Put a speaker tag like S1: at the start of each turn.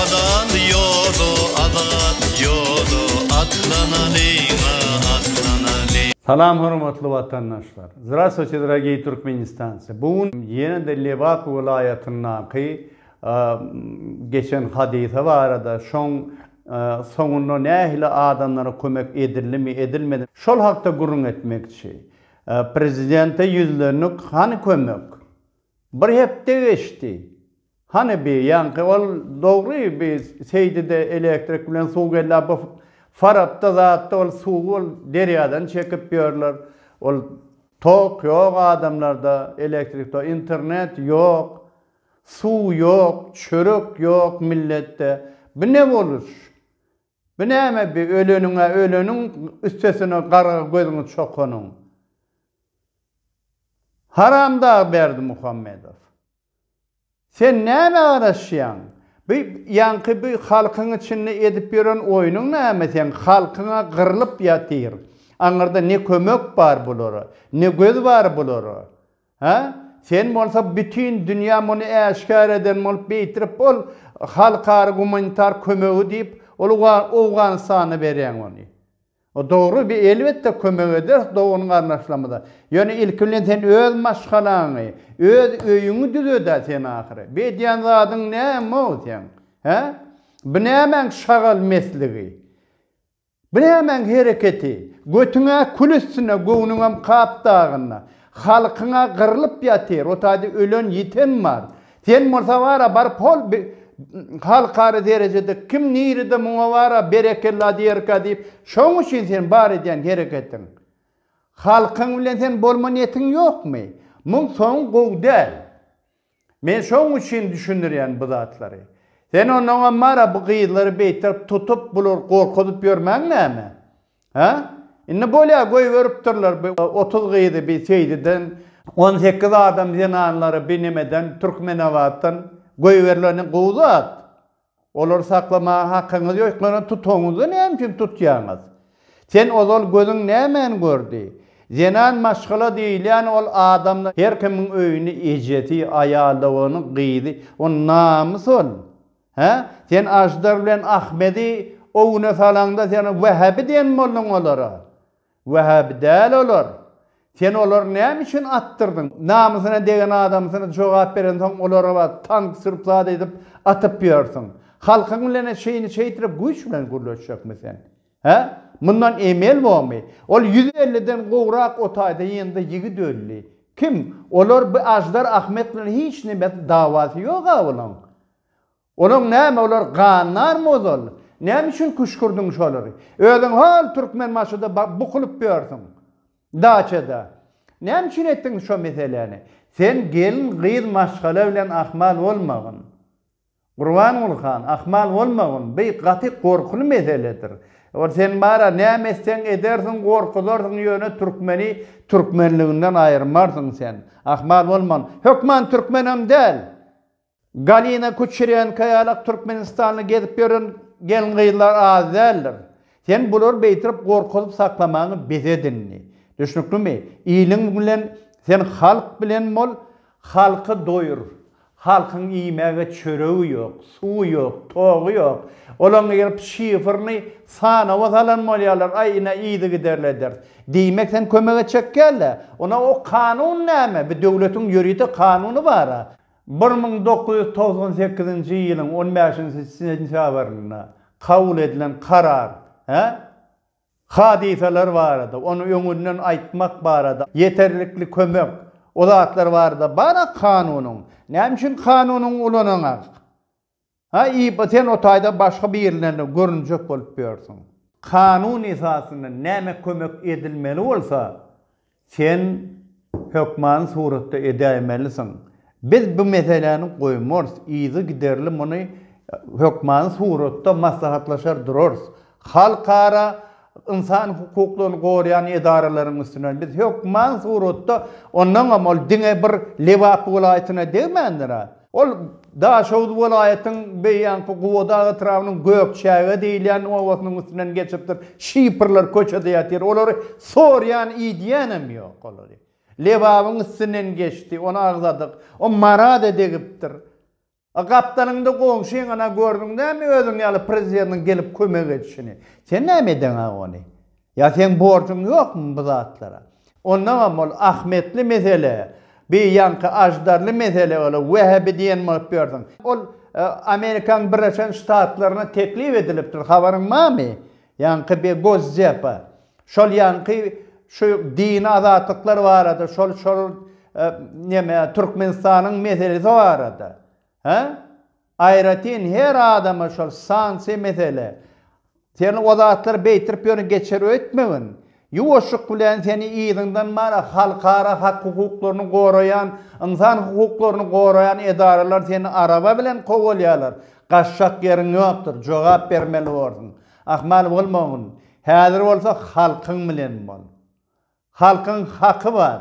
S1: Azat ýoda, azat ýoda, atlanalyň-a, atlanalyň. Salam hormatly watandaşlar! Zdrastwuçe, dragiý Türkmenistanci! Bu gün ýene-de Lebap welaýatyndaky geçen hadysa barada, şoň soňunda nähili adamlara kömek edildimi, edilmedimi, şol hakda gürrüň etmekçi. Prezidente ýüzlendik, hany kömek? Bir hepde geçdi. Hany bi, ýaňky ol dogry bi Seýdide elektrik bilen suw geldi, a bu Farapda zatda ol suwy ol derýadan çekip ýörler. Ol tok ýok adamlarda, elektrik to, internet ýok, suw ýok, çörek ýok milletde. Bu ne boluş? Bu näme bi öleniňä öleniň üstesine garga gözüňi çokanyň. Haramdag Berdimuhammedow. Sen näme garaşýaň? Bu ýaňky bu halkyň içinde edip ýören oýnuň näme seň halkyňa gyrlyp ýatyr. Aňyrda ne kömek bar bulara, ne göz bar bulara. Hä? Sen bolsa bütin dünýä muny äşgär eden bolup beýtirip ol halkara gumanitar kömegi diýip ol Owganystana berýäň ony. O dogry bi elbetde kömek ederis dogan garnaşlarymyza. Ýöne ilki bilen sen öz maşgalaňy, öz öýüňi düzedä sen ahyry. Bi edýän zadyň näme ol seň? Hä? Bi nämäň şagal mesligi? Biremäň hereketi, götüň-ä kül üstüne, göwnüňem kap dagynda. Halkyň-a gyrlyp ýatyr, o taýda ölen-ýiten bar. Sen bolsa bar-a, baryp hol bi halkara derejede kim nirede muňa bar-a, berekella diýerkä diýip, şoň üçin sen bar edýän hereketiň. Halkyň bilen sen bolma niýetiň ýokmy? Muň soňy gowy däl. Men şoň üçin düşündirýän bu zatlary. Sen onoňam bar-a bu gyzlary beýterip tutup, bulary gorkuzyp ýörmäň näme? Hä? Indi bolýa, goýberipdirler bi otuz gyzy bi Seýdiden, on sekiz adam zenanlary bi nemeden, Türkmenabatdan goýberleni gowy zat. Olary saklamaga hakyňyz ýok. Ýöne tutuňyzda näme üçin tutýaňyz? Sen ozal gözüň nämäni gördi? Zenan maşgala diýilýän ol adamda her kimiň öýüni ejesi, aýalyny, gyzy, ol namys ol. Hä? Sen Aždar bilen Ahmedi o güne salaňda sen wehhabi diýen bolduň olara. Wähäbi däl olar. Sen olary näme üçin atdyrdyň? Namysyna degen adamsyny jogap berensoň olary bar tank sürüp zat edip atyp ýörsiň. Halkyň bilen-ä şeýni şeýträk güýç bilen gürleşjekmi sen? Hä? Mundan emel bormy? Ol ýüz elliden gowrak otaýda ýygndy ýigit öldi. Kim? Olar bu Aždar Ahmet bilen hiç nime dawasy ýog-a olaň. Olaň näme olar gandar mozol näme üçin küşkürdiň şolary özüň hol Türkmenbaşyda bukulyp ýörsüň daçada näme üçin etdiň şo meseläni sen gelin gyz maşgala bilen ahmal bolmagyn Gurbanguly han ahmal bolmagyn by gaty gorkuly meseledir ol sen bara näme etseň edersiň gorkuzarsyň ýöne Türkmeni Türkmenliginden aýyrmarsyň sen ahmal bolmagyn hökman Türkmen hem däl. Galina Kuçerenko ýalak Türkmenistanda gezip ýören gelin-gyzlar az däldir. Sen bulary beýtirip gorkuzyp saklamagyňy bes edindi. Düşnüklimi? Iliň bilen sen halk bilen bol, halky doýur. Halkyň iýmäge çöregi ýok, suwy ýok, togy ýok. Olaň girip şifrni sanawa salan bolýarlar, aý ine yzygiderli ederis. Diýmek sen kömege çekýärle. Onda o kanun näme? Bir döwletiň ýörite kanuny bara. Bir müň dokuz ýüz togsan sekizinji ýylyň on bäşinji sentýabrynda kabul edilen karar he hadysalar barada, ony öňünden aýtmak barada, ýeterlikli kömek, o zatlar barada bar-a kanunyň. Näme üçin kanunyňy ulanaňak? Ha Ipa sen o taýda başga birlerine görünjek bolup ýörsüň. Kanun esasynda näme kömek edilmeli bolsa sen hökmany suratda edäýmelisiň. Biz bu meseläni goýmarys, yzygiderli muny hökmany suratda maslahatlaşar durarys. Halkara ynsan hukuklaryny goraýan edaralaryň üstünden biz hökman suratda, ondaňam ol diňe bir Lebap welaýatyna degmändir-ä. Ol Daşoguz welaýatyň beýýanky Gubadag etrabynyň Gökçäge diýilýän obasynyň üstünden geçipdir. Şifrler köçede ýatyr. Olary sorýan, idýänem ýok olary. Lebabyň üstünden geçdi, ony agzadyk. O Marada degipdir. A gapdalyňda goňşyňyna gördüň näme özüň ýaly prezidentiň gelip kömek edişini. Sen näme edeňä ony? Ýa seň borjuň ýokmy bu zatlara? Ondaňam ol Ahmetli mesele, bi ýaňky Aždarly mesele ola Wähbi diýen bolup ýörsüň. Ol Amerikaň Birleşen Ştatlaryna teklip edilipdir, habaryň barmy? Ýaňky bir gozzepa. Şol ýaňky şu dini azatlyklar barada şol şol neme Türkmenistanyň meselesi barada. He? Aýratyn her adama şol sansiýa mesele. Sen o zatlary beýtirip ýöne geçer öýtmegin. Ýuwaşlyk bilen seni yzyňdan mara halkara hak hukuklaryny goraýan, ynsan hukuklaryny goraýan edaralar seni araba bilen kowalýarlar. Gaçjak ýeriň ýokdur, jogap bermeli borsuň. Ahmal bolmagyn. Häzir bolsa halkyň bilen bol. Halkyň haky bar.